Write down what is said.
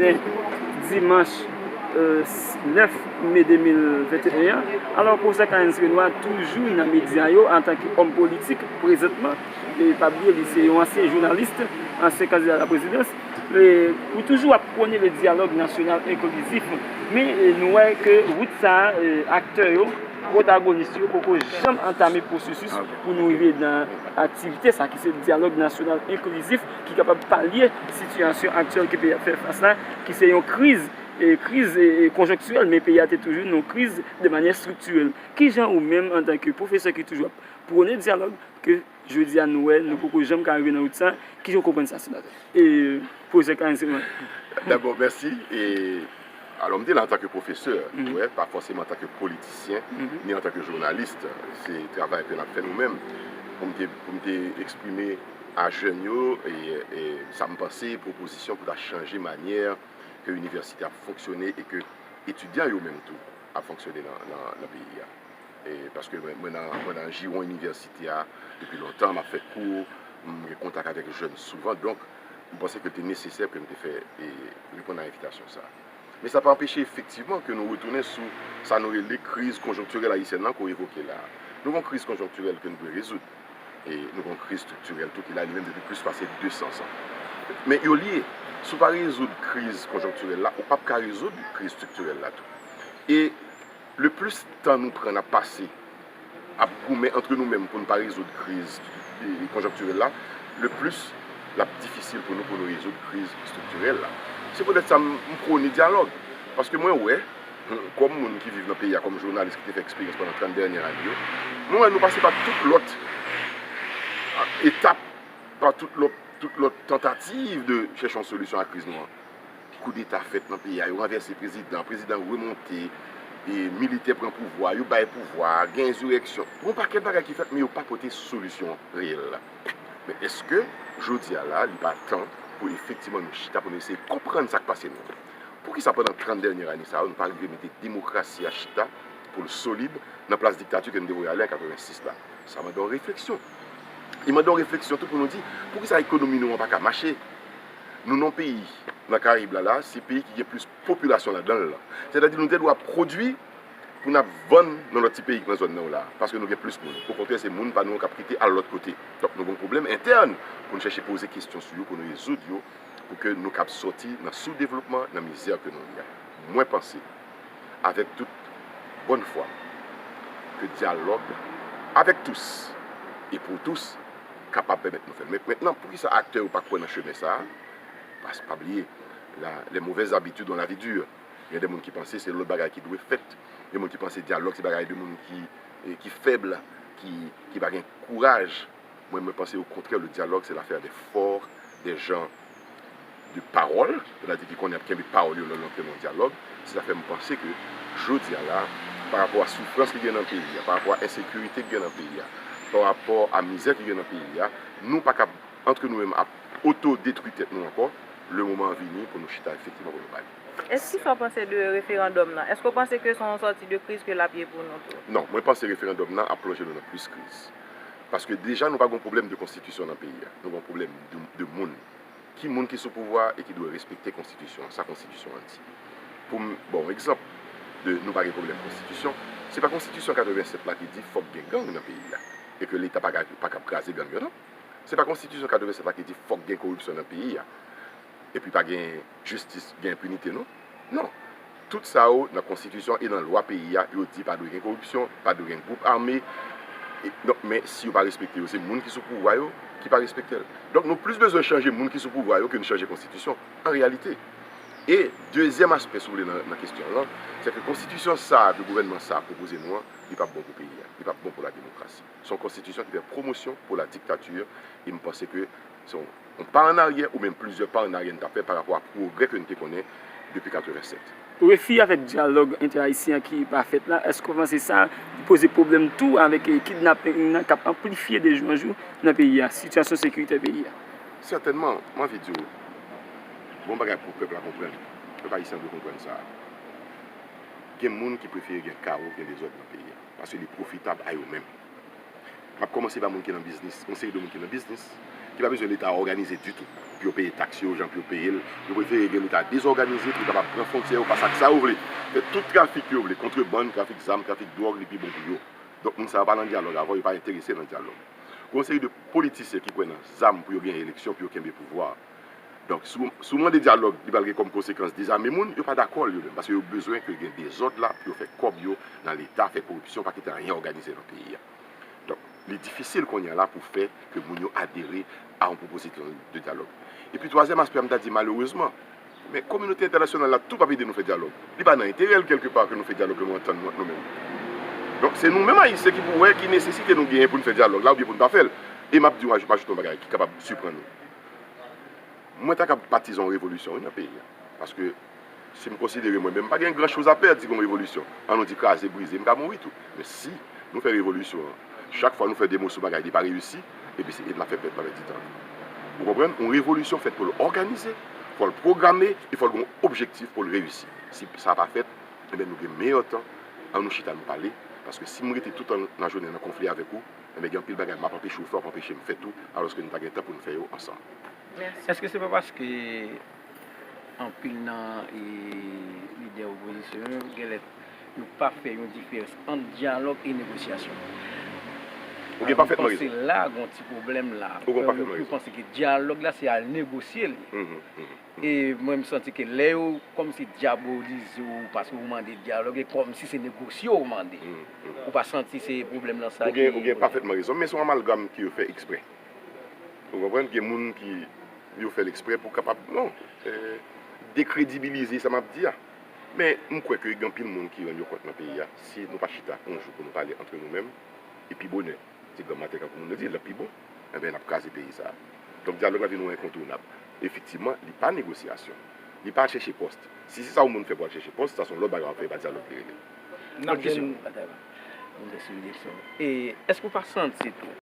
jounen dimanch 9 me 2021 an, alò pwosè Kahenns Renois toujou nan medya yo antanke òm politik prezantman, e pa bliye li se yon ansyen jounalis, ansyen kandida la prezidans, pou toujou ap pwone le dyalòg nasyonal enklizif, men nou wè ke wout sa a aktè yo, pwotagonis yo poko janm antame pwosesis pou nou rive nan aktivite sa ki se dyalòg nasyonal enklizif. ki kapab palye sitiyasyon aktyèl ke peyi a ap fè fas la, ki se yon kriz, kriz konjonktirèl, men peyi a te toujou nan yon kriz de manyè estriktirèl. Ki jan ou menm an tan ke pwofesè ki toujou ap pwone dyalòg, ke jodi a nou wè nou poko janm ka rive nan wout sa, ki jan ou konprann sa senatè? Pwofesè Clarens Herman. Dabò mèsi. Alò m te la antanke pwofesè, ou wè, pa fòseman antanke politisyen, ni antanke jounalis, se travay ke n ap fè nou menm, pou m te, pou m te eksprime a jèn yo sa m panse, pwopozisyon pou ta chanje manyè ke inivèsite ap fonksyone e ke etidyan yo menm tou ap fonksyone nan peyi a. Paske mwen nan jiwon inivèsite a depi lontan, m ap fè kou, m gen kontak avèk jèn souvan, donk. m panse ke l te nesesè ke m te fè reponn a envitasyon sa. Men sa pa anpeche efektivman ke nou retounen sou sa nou rele kriz konjonktirèl ayisyèn lan ke w evoke la a. Nou gen yon kriz konjonktirèl ke n dwe rezoud. E nou gen yon kriz estriktirèl tou ki la li menm depi plis pase 200 zan. Men yo lye. Si w pa rezoud kriz konjonktirèl la, ou p ap ka rezoud kriz estriktirèl la tou. E le plis tan nou pran n ap pase. ap goumen antre nou menm pou n pa rezoud kriz konjonktirèl la, le plis l ap difisil pou nou pou nou rezoud kriz estriktirèl la. Se poutèt sa m pwone dyalòg. Paske mwen wè, kòm moun ki viv nan peyi a, kòm jounalis ki te fè eksperyans pandan 30 dènyè ane yo, mwen wè nou pase pa tout lòt etap, pa tout lòt tantativ de chèche yon solisyon a kriz nou an. Koudeta fèt nan peyi a, yo ranvèse prezidan, prezidan remonte, militè pran pouvwa, yo bay pouvwa, gen enzireksyon. Gen yon pakèt bagay ki fèt men yo pa pote solisyon reyèl la. Men èske jodi a la li pa tan pou efektivman nou chita pou nou eseye konprann sa k pase nou? Poukisa pandan 30 dènyè ane sa yo nou pa rive mete demokrasi a chita pou l solid nan plas diktati ke nou te voye ale an 86 la? Sa mande yon refleksyon. Li mande yon refleksyon tou pou nou di poukisa ekonomi nou an pa ka mache? nou non peyi nan karib la la se peyi ki gen plis popilasyon ladan l lan sè ta di nou te dwa pwodwi pou nap vann nan lòt ti peyi ki nan zòn nan yo la paske nou gen plis moun o kontrè se moun pa nou yo kap kite al lòt kote donk nou gen yon pwoblèm entèn pou n chèche poze kesyon sou yo pou nou rezoud yo pou ke nou kab sòti nan soudevlopman nan mizè ke nou ye a mwen panse. avèk tout bòn fwa ke dyalòg avèk tous e pou tous kapab pèmèt nou fè. Mentnan, poukisa aktè yo pa kwè nan chemen sa a? Paske, pa bliye, la, les mauvaises habitudes ont la vie dure. Gen de moun ki panse se lòt bagay ki dwe fèt. Gen moun ki panse dyalòg se bagay de moun ki fèb, ki pa gen kouraj. Mwen mwen panse o kontrè le dialogue se lafè de fort de jan de pawòl, sètadi ki konnen ap kenbe pawòl yo lè yo antre nan yon dialogue, se sa fè m panse ke jodi a la a pa rapò a soufrans ki gen nan peyi a, pa rapò a ensekirite ki gen nan peyi a, pa rapò a mizè ki gen nan peyi a, nou pa kab antre nou menm ap oto detwi tèt nou ankò, le moman an vini pou nou chita efektivman pou nou pale. Èske ki sa w panse de referandòm nan? Èske w panse ke se yon sòti de kriz ke l ap ye pou nou tou? Non, mwen panse referandòm nan ap plonje nou nan plis kriz. Paske deja nou pa gon pwoblèm de konstitisyon nan peyi a. Nou gon pwoblèm de moun. Ki moun ki sou pouvwa a e ki dwe respekte konstitisyon an, sa konstitisyon an di. Pou m ba w egzanp de nou pa gen pwoblèm konstitisyon, se pa konstitisyon 87 la ki di fòk gen gang nan peyi a e ke leta pa kapab kraze gang yo non. Se pa konstitisyon 87 la ki di fòk gen koripsyon nan peyi a. epi pa gen jistis gen enpinite non non tout sa yo nan konstitisyon e nan lwa peyi a yo di pa dwe gen koripsyon pa dwe gen gwoup ame donk men si yo pa respekte yo se moun ki sou pouvwa yo ki pa respektel donk nou plis bezwen chanje moun ki sou pouvwa yo ke nou chanje konstitisyon an reyalite e dezyèm aspè si w vle nan kestyon w lan se ke konstitisyon sa ke gouvènman sa pwopoze nou an li pap bon pou peyi a li pap bon pou la demokrasi son konstitisyon ki fè pwomosyon pou la diktati e m panse ke So, yon pa an aryè ou menm plizyè pa an aryè n ta fè parapò a pwogrè ke n te konnen depi 87. Refi avèk dyalòg entè-ayisyen an ki pa fèt la, èske w panse sa poze pwoblèm tou avèk kidnaping nan k ap anplifye de jou an jou nan peyi a, sitiyasyon sekiritè peyi a? Sètènman. M anvi di w, gen yon bagay pou pèp la konprann, pèp ayisyen an dwe konprann sa, gen moun ki prefere gen kawo, gen dezòd nan peyi a, paske li pwofitab a yo menm. M ap kòmanse pa moun ki nan biznis, yon seri de moun ki nan biznis, ki pa bezwen Leta òganize ditou pou yo peye taks yo jan pou yo peye l. Yo prefere gen Leta dezòganize pou yo kapab pran fwontyè yo, fè ak sa yo vle, fè tout trafik yo vle, kontrebann, trafik zam, trafik dwòg, li pi bon pou yo. Donk moun sa yo pa nan dyalòg avè w, yo pa enterese nan dyalòg. Gen yon seri de politisyen ki kwè nan zam pou yo genyen eleksyon, pou yo kenbe pouvwa a. Donk, si w mande dyalòg, li pral gen kòm konsekans dezame moun, yo pa dakò l yo menm, paske yo bezwen ke gen dezòd la pou yo fè kòb yo nan Leta, fè koripsyon, pa kite anyen òganize nan peyi a. Donk, li difisil kounye a la pou fè ke moun yo adere a yon pwopozisyon de dyalòg. Epi twazyèm aspè a, m ta di malerezman, men kominote entènasyonal la tou p ap ede nou fè dyalòg. Li pa nan enterè l kèlke pa ke nou fè dyalòg lè nou antann nou ant nou menm. Donk, se nou menm Ayisyen ki pou wè ki nesesite nou genyen pou n fè dyalòg la oubyen pou n pa fè l. E m ap di w, m ajoute yon bagay ki kapab siprann ou. Mwen ta kab patizan yon revolisyon wi nan peyi a. Paske si m konsidere mwen menm m pa gen gran choz a pèd si gen yon revolisyon. An nou di kraze brize m ka mouri tou. Men si nou fè revolisyon an chak fwa nou fè de moso bagay li pa reyisi epi se e n ap fè pèp la pèdi tan li. Ou konprann? Yon revolisyon fèt pou l òganize, fò l pwograme e fò l gen yon objektif pou l reyisi. Si sa pa fèt enben nou gen meyè tan an nou chita nou pale paske si m rete toutan lajounen nan konfli avèk ou, Enben gen anpil bagay m ap anpeche w fè w ap anpeche m fè tou alòske nou ta gen tan pou n fè yo ansanm. Èske se pa paske anpil nan lidè opozisyon yo genlè yo pa fè yon diferans ant dyalòg e negosyasyon? Ou gen pafètman rezon. Alò m panse la gon ti pwoblèm la. Ou gen pafètman rezon. Yo panse ke dyalòg la se al negosye li. E mwen m santi ke lè yo kòmsi dyabolize w paske w mande dyalòg e kòmsi se negosye w mande. Ou pa santi se pwoblèm lan sa ki. Ou gen pafètman rezon men se yon amalgam ke yo fè eksprè. Ou konprann? Gen moun ki yo fè l eksprè pou kapab non dekredibilize sa m ap di a. Men m kwè ke gen anpil moun ki rann yo kont nan peyi a si nou pa chita yon jou pou nou pale antre nou menm e pi bonè se granmate tankou moun yo di l ap pi bon. Enben, n ap kraze peyi sa a. Donk, dyalòg la vin yon enkontounab. Efektivman, li pa negosyasyon. Li pa chèche pòs. Si se sa yon moun fè pou al chèche pòs, sa se yon lòt bagay w ap fè, e pa dyalòg li rele. Lòt kesyon. N ap jwenn batay la. Mwen vle souliye sa. E, èske ou pa santi tou.